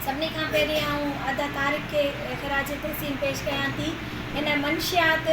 سڀني کان پهرين آئون ادا طارق کي خراج تحسين پيش ڪيان ٿي هن منشيات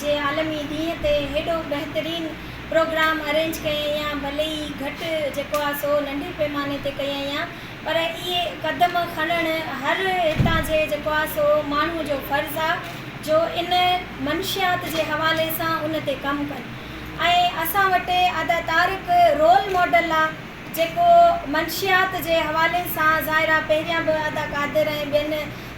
جي عالمي ڏينهن تي هيڏو بهترين پروگرام ارينج ڪيائين يا ڀلي ئي گهٽ جيڪو آهي سو ننڍي پيماني تي ڪيائين يا پر اهي قدم کڻڻ هر هتان جي جيڪو آهي سو ماڻهو جو فرض آهي جو ان منشيات جي حوالي سان ان تي ڪم ڪن ۽ اسان وٽ ادا طارق رول ماڊل آهي جيڪو منشيات جي حوالي سان ظاهرا پهريان به ادا قادر ۽ ٻين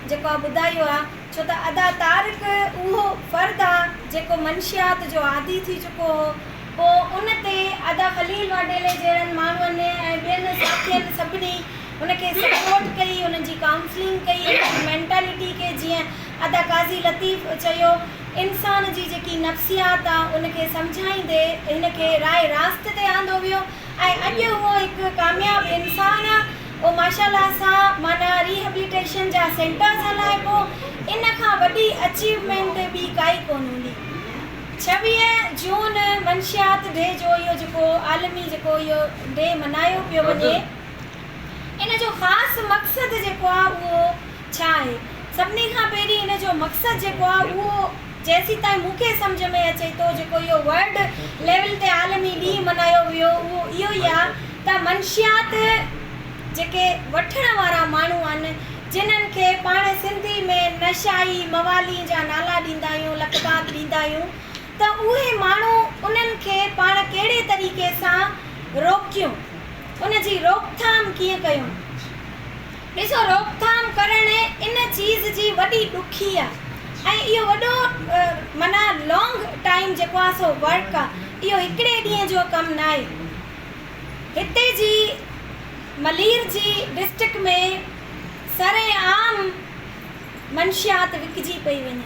جيڪو آ ٻڌايو آ ڇو ته ادا طارق اهو فرد آ جيڪو منشيات جو عادي ٿي چڪو هو پو ان تي ادا خليل واڍيلي جهڙن ماڻهن ۽ ٻين ساٿين سڀني هن کي سپورٽ ڪئي هن جي ڪائونسلنگ ڪئي هن جي مينٽالٽي کي جيئن ادا قاضي لطيف چيو انسان جي جيڪي نفسيات آ ان کي سمجهائيندي هن کي راهه راست تي آندو ويو. ۽ اڄ اهو هڪ ڪامياب انسان آ او ماشا الله سان معنيٰ ريهبليٽيشن جا سينٽرز هلائي پو ان کان وڏي اچيومينٽ ٻي ڪائي ڪون هوندي ڇويهه جون منشيات ڊي جو اهو جيڪو عالمي جيڪو اهو ڊي منايو پيو وڃي ان جو خاص مقصد جيڪو آ اهو ڇا آهي؟ سڀني کان پهرين هن جو مقصد جيڪو آهي اهو جيسيتائين مون کي سمجهه ۾ اچي ٿو جيڪو اهو ورلڊ ليول تي عالمي ڏينهن ملهايو ويو اهو اهو ئي آهي ته منشيات جيڪي وٺڻ وارا ماڻهو آهن جنهن کي پاڻ سنڌي ۾ نشائي موالين جا نالا ڏيندا آهيون لقبات ڏيندا آهيون ته اهي ماڻهو انهن کي پاڻ ڪهڙي طريقي سان روڪيون ان جي روڪٿام ڪيئن ڪيون ڏسو روڪٿام ڪرڻ ان چيز جي وڏي ڏکي آ ۽ اهو وڏو معنيٰ لانگ ٽائيم جيڪو آ سو ورڪ آ اهو هڪڙي ڏينهن جو ڪم ناهي هتي جي ملير جي ڊسٽرڪٽ ۾ سرعام منشيات وڪجي پئي وڃي.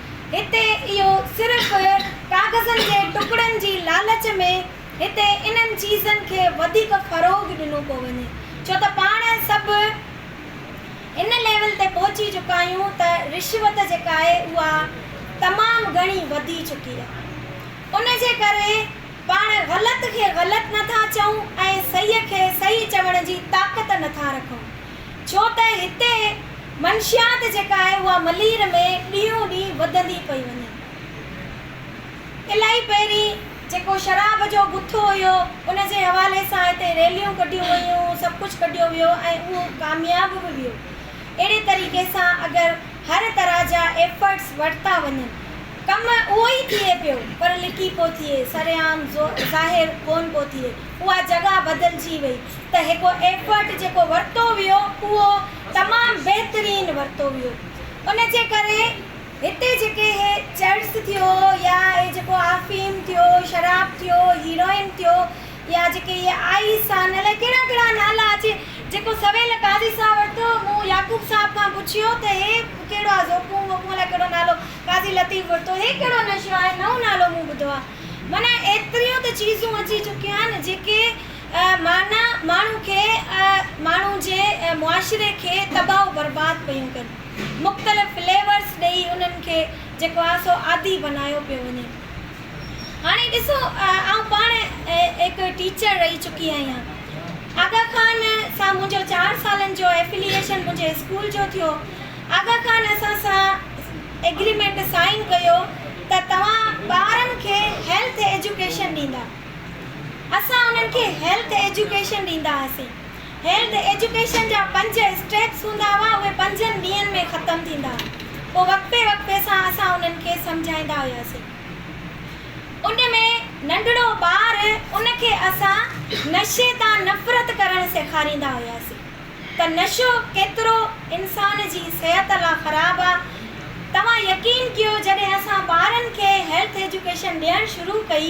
هتي اهو صرف ڪاغذن جي ٽڪڙن جي لالچ ۾ هتي انهن چيزن کي وڌيڪ فروغ ڏنو پيو وڃي ڇو ته پاڻ سڀ ان ليول تي پهچي چڪا آهيون ته رشوت جيڪا آهي اها تمام گهڻي وڌي چڪي آهي ان جي ڪري پاڻ غلط کي غلط نٿا چئون ۽ صحيح کي صحيح چوڻ جي طاقت نٿا رکون. ڇو ته هتي منشيات جيڪا آهي اها ملير ۾ ڏينهون ڏينهن وڌندي پئي وڃي. الائي پهرين جيڪو شراب جو گٿو هيو ان جي حوالي سان هتي ريليون ڪڍيون ويون، سڀ ڪجهه ڪڍيو ويو ۽ اهو ڪامياب به ويو. اهڙي طريقي سان اگر هر طرح جا ايفرٽس ورتا وڃن ڪم اهو ئي ٿئي پيو پر لڪي پيو ٿئي، سرعام ظاهر ڪونه پيو ٿئي، اها جڳهه بدلجي وئي. ته هڪ ايفرٽ جيڪو ورتو ويو اهو تمام بهترين ورتو ويو ان جي ڪري هتي جيڪي هي چرس ٿيو يا هي جيڪو آفيم ٿيو شراب ٿيو هيروئن ٿيو يا جيڪي هي آئيس آهن الائي ڪهڙا ڪهڙا نالا اچي جيڪو سويل قاضي صاحب ورتو مون يعقوب صاحب کان پڇيو ته هي ڪهڙو آهي زوڪون ووڪون الائي ڪهڙو نالو قاضي لطيف ورتو هي ڪهڙو نشو آهي نئون نالو مون ٻڌو آهي معنيٰ ايتريون ته چيزون اچي چڪيون آهن جيڪي معنيٰ ماڻهو کي ماڻهو جي معاشري کي تباهه و برباد پيون ڪن. مختلف فليورس ڏئي انهن کي جيڪو آ سو عادي بنايو پيو وڃي. هاڻي ڏسو آئون پاڻ هڪ ٽيچر رهي چڪي آهيان. آغا خان سان منهنجو چار سالن جو ائفليئيشن منهنجي اسڪول جو ٿيو. آغا خان اسان سان ايگريمينٽ سائين ڪيو ته توهان ٻارن کي هيلٿ ايجوڪيشن ڏيندا. اسان انهن کي هيلٿ ايجوڪيشن ڏيندا هئاسين. هيلٿ ايجوڪيشن جا پنج اسٽيپس هوندا هئا، اهي پنجن ڏينهن ۾ ختم ٿيندا هئا. پوء وقفي وقفي سان اسان انهن کي سمجهائيندا هياسين. ان ۾ ننڍڙو ٻار ان کي اسان نشي تان نفرت ڪرڻ سيکاريندا هياسين ته نشو ڪيترو انسان جي صحت لا خراب آ. توهان يقين ڪيو جڏهن اسان ٻارن کي هيلٿ ايجوڪيشن ڏيڻ شروع ڪئي،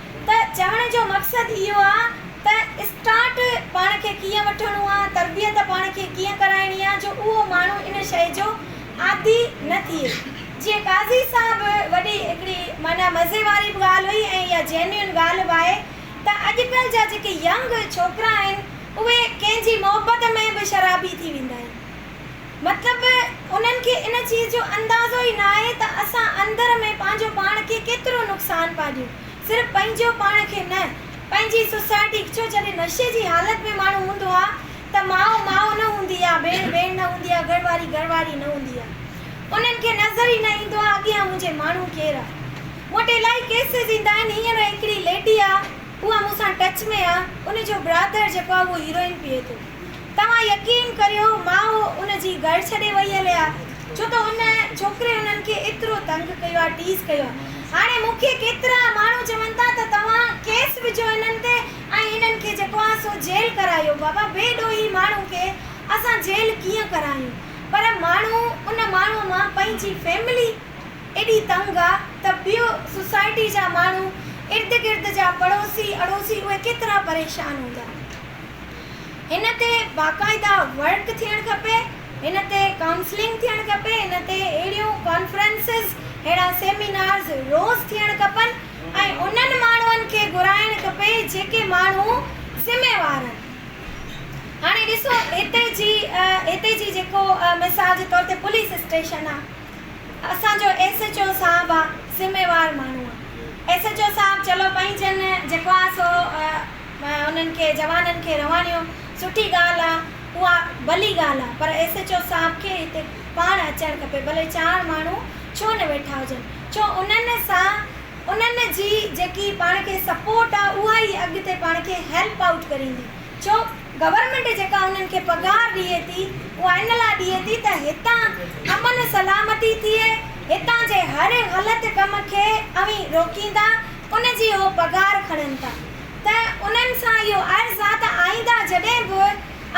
ته چوڻ جو مقصد اهو آ ته اسٽارٽ پاڻ کي ڪيئن وٺڻو آ، تربيت پاڻ کي ڪيئن ڪرائڻي آ جو اهو ماڻهو ان شيء جو عادي نه ٿئي. جيئن قاضي صاحب وڏي هڪڙي معنيٰ مزي واري به ڳالهه هئي ۽ اها جينيون ڳالهه به آهي ته اڄڪلهه جا جيڪي ينگ ڇوڪرا آهن اهي ڪنهن جي محبت ۾ به شرابي ٿي ويندا آهن. مطلب انهن کي ان چيز جو اندازو ئي ناهي ته اسان اندر ۾ پنهنجو پاڻ کي ڪيترو نقصان پيا ڏيون. صرف پنهنجو پاڻ کي نه، پنهنجي سوسائٽي کي. ڇو جڏهن نشي جي حالت ۾ ماڻهو هوندو آ ته ماء ماء نه هوندي آ، ڀيڻ ڀيڻ نه هوندي آ، گهر واري گهر واري نه هوندي آ. انهن کي نظر ئي نه ايندو آ اڳيان منهنجي ماڻهو ڪير آ. مون وٽ الائي ڪيسز ايندا آهن. هينئر هڪڙي ليڊي آ اها مون سان ٽچ ۾ آ ان جو برادر جيڪو آ اهو هيروئن پيئي ٿو. توهان يقين ڪريو ماء ان جي گهر ڇڏي وئي هلي آ ڇو ته ان ڇوڪري انهن کي ايترو تنگ ڪيو آ ٽيز ڪيو آ هاڻي مون کي ڪيترا ماڻهو چون ٿا ته توهان ڪيس وجهو هنن تي ۽ هنن کي جيڪو آ سو جيل ڪرايو بابا بي ڏوهي ماڻهو کي اسان جيل ڪيئن ڪرايون پر ماڻهو ان ماڻهو مان پنهنجي فيملي ايڏي تنگ آ ته ٻيو سوسائٽي جا ماڻهو ارد گرد جا پڙوسي اڙوسي اهي ڪيترا پريشان هوندا. هن تي باقاعده ورڪ ٿيڻ کپي، هن تي ڪائونسلنگ ٿيڻ کپي، هن تي اهڙيون ڪانفرنسز، اهڙا سيمينارز روز ٿيڻ کپن ۽ انهن ماڻهن کي گهرائڻ کپي جيڪي ماڻهو ذميوار آهن. هاڻي ڏسو هتي جي هتي جي جيڪو مثال جي طور تي پوليس اسٽيشن آهي، اسان جو ايس ايچ او صاحب آهي ذميوار ماڻهو آهي، ايس ايچ او صاحب چلو پنهنجن جيڪو آهي سو انهن کي جوانن کي رهواڻيو سٺي ڳالهه آ اها ڀلي ڳالهه آ پر ايس ايڇ او صاحب کي هتي پاڻ اچڻ کپي ڀلي چار ماڻهو ڇو نه ويٺا هجن ڇو انهن سان انهن جي جيڪي پاڻ کي سپورٽ آ اها ئي اڳتي پاڻ کي هيلپ آئوٽ ڪريندي ڇو گورنمينٽ جيڪا انهن کي پگهار ڏئي ٿي اها ان لا ڏئي ٿي ته هتان امن سلامتي ٿئي هتان جي هر غلط ڪم کي اوهين روڪيندا ان جي هو پگهار کڻن ٿا ته انهن سان اهو عرض آ ته آئينده جڏهن به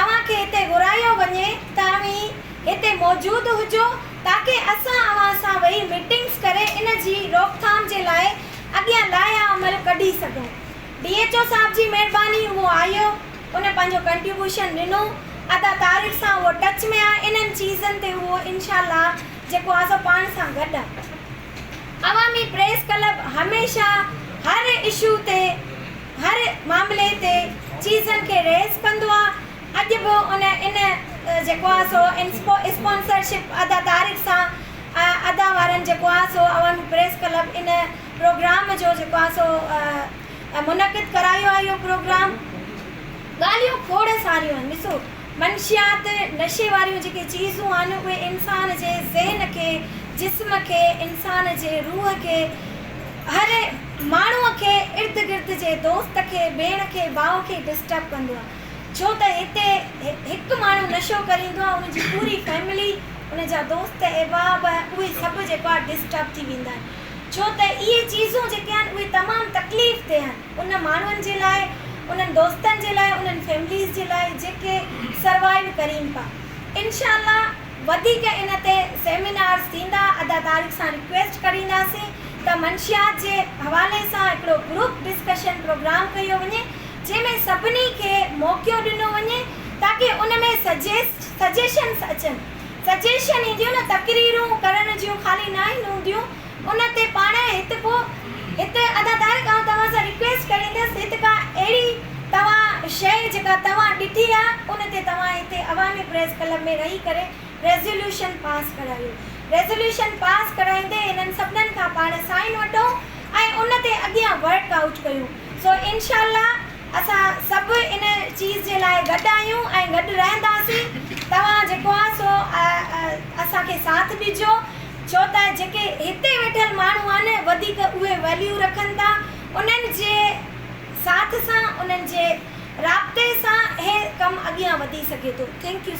اوهان کي هتي گهرايو وڃي ته اوهين هتي موجود هجو تاڪه اسان اوهان سان ويهي ميٽنگس ڪري ان جي روڪٿام جي لاء اڳيان لائحه عمل ڪڍي سگهون. ڊي ايڇ او صاحب جي مهرباني اهو آيو ان پنهنجو ڪنٽيوبوشن ڏنو ادا طارق سان اهو ٽچ ۾ آ انهن چيزن تي اهو انشاء الله جيڪو آ سو پاڻ سان گڏ آ. عوامي پريس ڪلب هميشه هر اشو تي هر معاملي تي چيزن کي ريز ڪندو آ اڄ به ان ان جيڪو آ سو اسپونسر شپ ادا طارق سان ادا وارن جيڪو آ سو عوامي پريس ڪلب ان پروگرام جو جيڪو آ سو منعقد ڪرايو آ اهو پروگرام ڳالهيون کوڙ ساريون آهن ڏسو منشيات، نشي واريون جيڪي چيزون آهن، اهي انسان جي ذهن کي، جسم کي، انسان جي روح کي، هر ماڻهوء کي، ارد گرد جي دوست کي، ڀيڻ کي، ڀاء کي ڊسٽرب ڪندو آهي. ڇو ته هتي هڪ ماڻهو نشو ڪري ايندو آهي، ان جي پوري فئملي، ان جا دوست احباب، اهي سڀ جيڪو آهي ڊسٽرب ٿي ويندا آهن. ڇو ته اهي چيزون جيڪي آهن، اهي تمام تڪليف دهه آهن. انهن ماڻهن جي لاء، انهن دوستن جي لاء، انهن فيمليز جي لاء جيڪي سروائيو ڪرين پا. انشاء الله وڌيڪ ان تي سيمينارز ٿيندا. ادا طارق سان ريڪويسٽ ڪرينداسين ته منشيات جي حوالي سان هڪڙو گروپ ڊسڪشن پروگرام ڪيو وڃي جنهن ۾ سڀني کي موقعو ڏنو وڃي تاڪه ان ۾ سجيسٽ سجيشنز اچن. سجيشن اينديون نه تقريرون ڪرڻ جون خالي ناهن هونديون. ان تي پاڻ هت ڪو هت ادادار کان توهان سان ريڪويسٽ ڪريندس هت ڪا اهڙي توهان شيء جيڪا توهان ڏٺي آ ان تي توهان هتي عوامي پريس ڪلب ۾ رهي ڪري ريزوليوشن پاس ڪرايو ريزوليوشن پاس ڪرائيندي هنن سڀنن کان پاڻ سائين وٺو ۽ ان تي اڳيان ورڪ آئوٽ ڪيون سو انشاء الله اسان سڀ ان چيز جي لاء گڏ آهيون ۽ گڏ رهنداسين توهان جيڪو آ سو اسان کي ساٿ ڏجو. ڇو ته جيڪي هتي ويٺل ماڻهو آهن وڌيڪ اهي ويليو رکن ٿا انهن جي ساٿ سان انهن جي رابطي سان هي ڪم اڳيان وڌي سگهي ٿو ٿينڪ يو سر.